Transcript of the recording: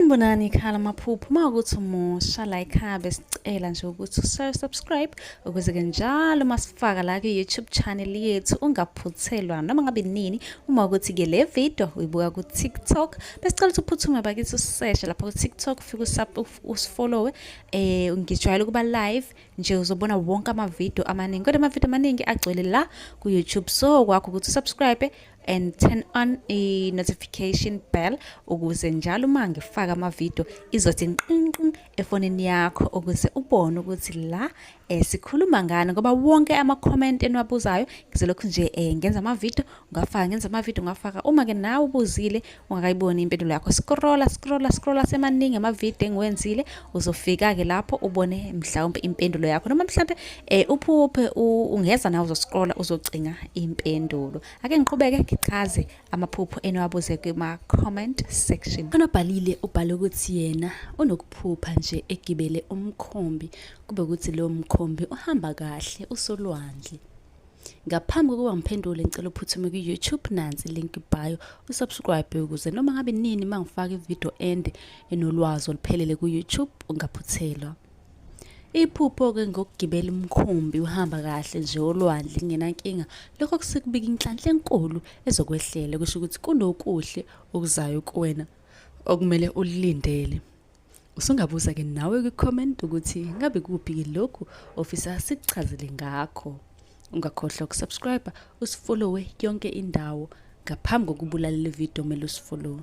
Sanibonani ikhala amaphupho uma ukuthi umusha la ikhaya besicela nje ukuthi ushaye subscribe ukuze ke njalo masifaka la ku-youtube channel yethu ungaphuthelwa noma ngabe nini uma ukuthi ke le video uyibuka ku-tiktok besicela ukuthi uphuthume bakithi useshe lapha ku-tiktok ufike usifollowe um ngijwayele ukuba live nje uzobona wonke amavidiyo amaningi kodwa amavidiyo amaningi agcwele la ku-youtube so kwakho ukuthi usubscribe and turn on a notification bell ukuze njalo uma ngifaka amavidiyo izothi nqinqin efonini yakho ukuze ubone ukuthi la eh, sikhuluma ngani ngoba wonke ama-comment eniwabuzayo ngizolokhu nje eh, ngenza amavidiyo ngafaka ngenza amavidiyo ngafaka uma-ke nawe ubuzile ungakayiboni impendulo yakho scrolla scrolla scrolla semaningi amavidiyo engiwenzile uzofika-ke lapho ubone mhlawumpe impendulo yakho noma mhlawumpe um uphuphe ungeza nawe uzoscrolla uzocinga impendulo ake ngiqhubeke ngichaze amaphupho eniwabuze kuma-comment section onobhalile ubhale ukuthi yena unokuphupha nje egibele umkhombi kube ukuthi lowo mkhombi uhamba kahle usolwandle ngaphambi kokuba ngiphendule ngicela uphuthume kwi-youtube nansi link bio usubscribe ukuze noma ngabe nini uma ngifaka ividiyo ende enolwazi oluphelele ku-youtube ungaphuthelwa iphupho-ke ngokugibela umkhumbi uhamba kahle nje olwandle kungenankinga lokho kusekubika inhlanhla enkulu ezokwehlela kusho ukuthi kunokuhle okuzayo kuwena okumele ulilindele Usungabuza ke nawe kwi-comment ukuthi ngabe kuphi lokhu ofisa sikuchazele ngakho. Ungakhohlwa ukusubscribe, usifollowe yonke indawo ngaphambi kokubulala le video kumele usifollowe.